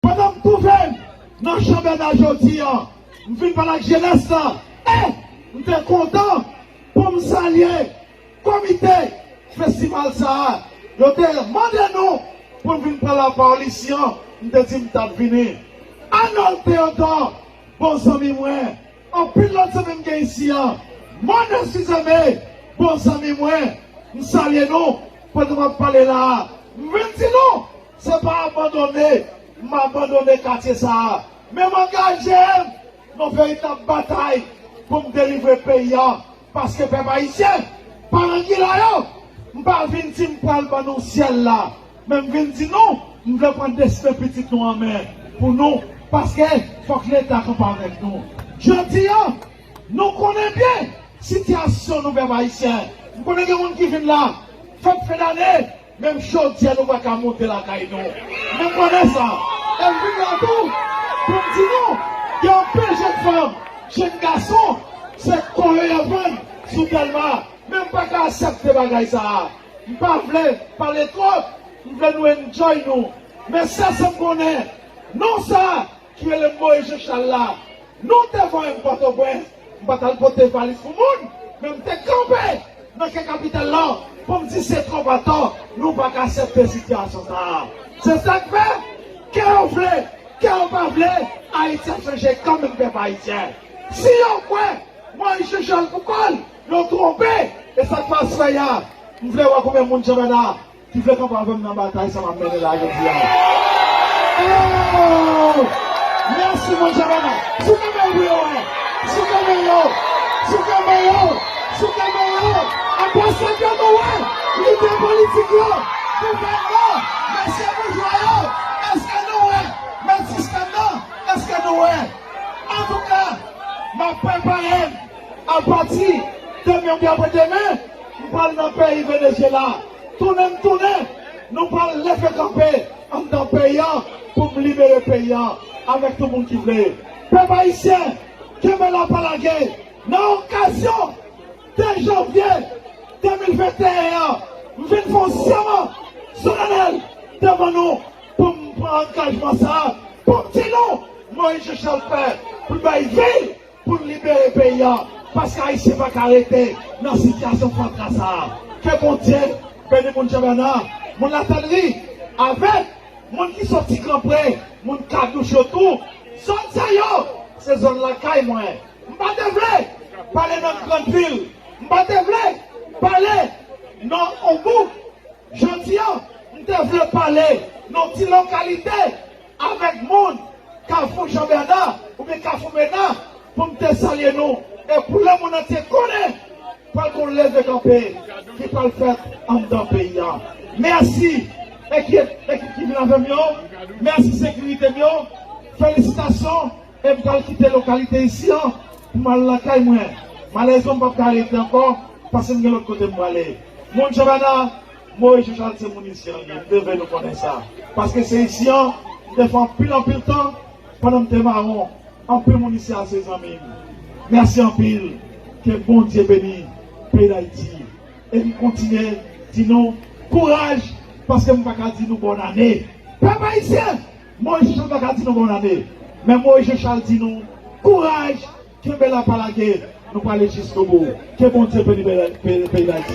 Pandan m twouve m nan Chanbèna jodi a, m vin pale ak jenès la e m te kontan pou m salye komite festival sa a. Yo te mande nou pou n vin pran lapawòl isi an, m te di m t ap vini. Anòl Teyodò, bon zanmi mwen, anpil lòt zanmi m gen isi a, Mòne Sizeme, bon zanmi mwen, m salye nou pandan m ap pale la a. M vin di nou. Se pa abandone m abandone katye sa a, men m angaje m nan veritab batay pou m delivre peyi a, paske pèp ayisyen pa nan gila yo. M pa vin di m pral ban nou syèl la, men m vin di nou m vle pran desten pitit nou an men pou nou, paske fòk Leta kanpe avèk nou. Jodi a, nou konnen byen sitiyasyon nou pèp ayisyen. M konnen gen moun ki vin la fèt fendane. Menm chodyè nou pa ka monte lakay nou. Mwen konnen sa. E m vin la tou pou m di nou gen anpil jenn fanm, jenn gason se kò yo y ap vann sou Dèlma. Men m pa ka asèpte bagay sa a. M pa vle pale twòp. M vle nou enjoy nou. Men sèl sa m konnen, non sa. Ki rele m Moyiz Janchal la. Nou te voye m Pòtoprens, m pa t al pote valiz pou moun, men m te kanpe nan kè kapital la pou m di se twòp atò, nou pa ka aksepte sitiyasyon sa a. Se sa k fè, kè yo vle, kè yo pa vle, Ayiti ap chanje kanmenm pèp ayisyen. Si yo kwè Moyiz Janchal pou kò l, yo twonpe. E sa k fè aswè a, m vle wè konbyen moun Janmèt a. ki vle kanpe avèm nan batay sa map mennen la jodi a ooh merci bon jan bagay souke menl pou yo wè souke men yo souke men yo souke men yo anbasad yo nou wè lidè politik yo gouvènè mesye boujwa yo eske nou wè mèt sistèm nan eske nou wè antouka map preparem apati demen ou byen apre demen. M pral nan peyi Venezyela. Tounen m tounen. Nou pral leve kanpe anndan peyi an pou m libere peyi an avèk tout moun ki vle. Pèp ayisyen, kenbe la pa lage! Nan okazyon 2 janvye 2021 an, m vin fè yon sèman solanèl devan nou pou m pran angajman sa a pou m di nou, Moyiz Jechal pè pou l bay vi l Pou n libere peyi an paske ayisyen pa ka rete nan sitiyasyon fatra sa a ke Bondye beni moun Jebèna moun latènri avèk moun ki soti gran pre moun kadouch yo tou zòn sa yo se zòn lakay mwen m pa te vle pale nan grand vil m pa te vle pale nan on bouk jodi an m te vle pale nan ti lokalite. Avèk moun Kafou Jean Bernard oubyen Kafou Mena pou m te salye nou e pou lemonn antye konnen pral gon leve kanpe ki pral fèt anndan peyi a. Mèsi ekip ekip ki vin avè m yo, mèsi sekirite m yo, felisitasyon e m pral kite lokalite isi an pou m al lakay mwen. Malèrezman m pap ka rete ankò paske m gen lòt kote m prale. Moun Jean Bernard Moy Jujant se moun isi an liye, m te vle nou konnen sa. Paske se isi an m te fè anpil anpil tan pandan m te mawon. Anpil moun isi a se zanmi m. Mèsi anpil. Ke Bondye beni peyi Dayiti. E m kontinye di nou kouraj paske m pa ka di nou bòn ane. Pèp Ayisyen! Moy Jujant pa ka di nou bòn ane. Men Moy Jechal di nou kouraj! Kenbe la pa lage nou prale jiskobou ke Bondye beni peyi dayiti.